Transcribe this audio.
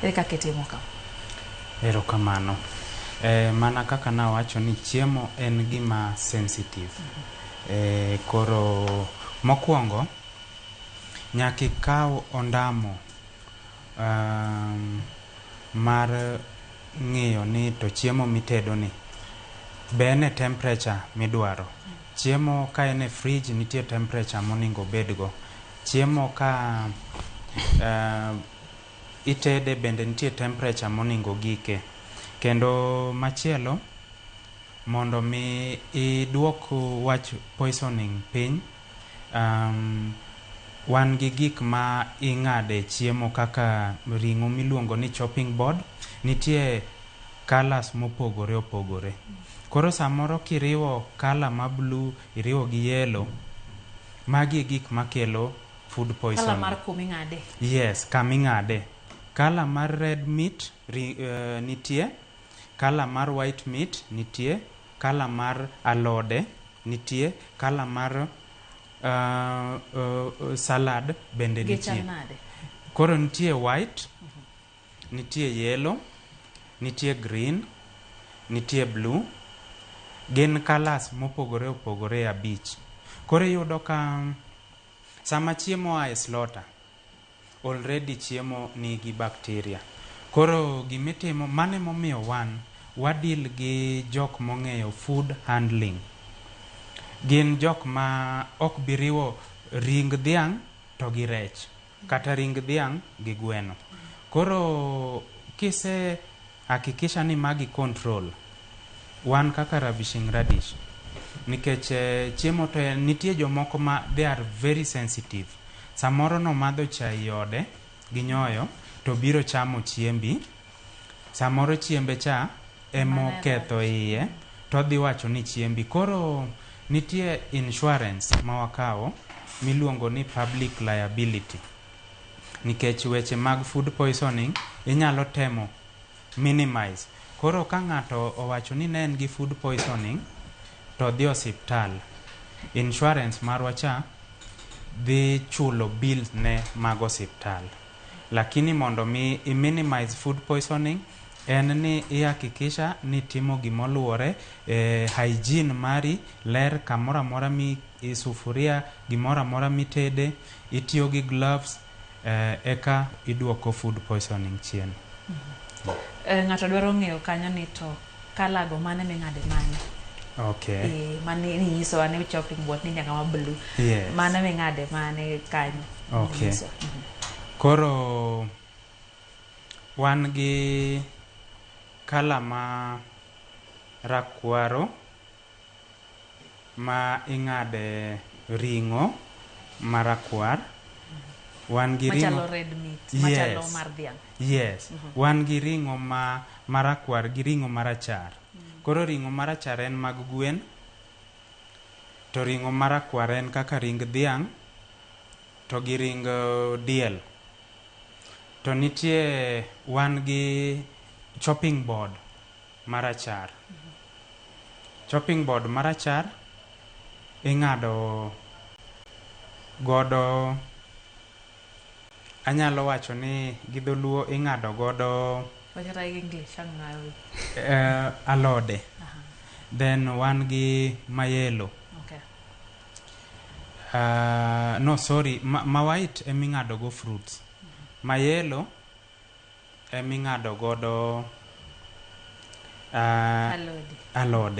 Ere kaka itimo kama? Erokamano. Eh, mana kaka nawacho ni chiemo en gima sensitive. Eh, koro mokwongo nyaka ikaw ondamo um, mar ng'iyo ni to chiemo mitedo ni be en e temperature midwaro. Chiemo ka en e fridge nitie temperature moningo obedgo. Chiemo ka eh, itede bende nitie temperature moningo ogike. Kendo machielo mondo mi iduok wach poisoning piny, wan gi gik ma ing'ade chiemo kaka ring'o miluongo ni chopping board, nitie colours mopogore opogore. Koro samoro kiriwo colour ma blue iriwo gi yellow, magi e gik makelo. food Kala poisoning. mar kuma ing'ade. Yes, kama ing'ade. Kala mar red meat ri, eh, nitie, kala mar white meat nitie, kala mar alode nitie, kala mar uh, uh, salad bende Gi chal nitie. nade? Koro nitie white, nitie yellow, nitie green, nitie blue. Gin colors mopogore opogore abich. Koro iyudo ka Sama chiemo oa e slota, already chiemo nigi bacteria. Koro gima itimo, mano ema omiyo wan wa deal gi jok mong'eyo food handling. Gin jok ma ok bi riwo ring dhiang' to gi rech, kata ring dhiang' gi gweno. Koro kise. Hakikisha ni magi control wan kaka Ravishing Radish nikech chiemo to en nitie jomoko ma they are very sensitive samoro nomadho chai e ode gi nyoyo to obiro chamo chiembi samoro chiembe cha emo ketho iye to odhi wacho ni chiembi koro nitie insurance ma wakawo miluongo ni public liability. nikech weche mag food poisoning inyalo temo minimize. Koro ka ng'ato owacho ni ne en gi food poisoning to odhi osiptal, insurance marwa cha dhi chulo bill ne mag osiptal. Lakini mondo mi i minimize food poisoning en ni i hakikisha ni itimo gima oluwore, hygiene mari ler, kamoro amora mi i sufuria, gimoro amora mitede, itiyo gi gloves eka iduoko food poisoning chien. Ng'ato dwaro ng'eyo kanyo ni to kalago mane ming'ade mane? Okay. Eh, mane ninyiso ane uchopping board ni nyaka ma blue. Yes. Mane ming'ade mane kanyo? Okay. Ninyiso. Mhm. Koro wan gi kala ma rakwaro. ma ing'ade ring'o marakwar, wan gi ring'o. Machalo red meat, machalo mar dhiang'. Yes, wan gi ring'o ma marakwar gi ring'o marachar. Koro ring'o marachar en mag gwen, to ring'o marakwar en kaka ring dhiang' to gi ring diel. To nitie wan gi chopping board. Marachar. Chopping board marachar ing'ado godo anyalo wacho ni gi dholuo ing'ado godo eh, alode then wan gi mayelo okay. uh, no sorry ma, ma white eming'ado go fruits mm -hmm. mayelo eming'ado godo alode.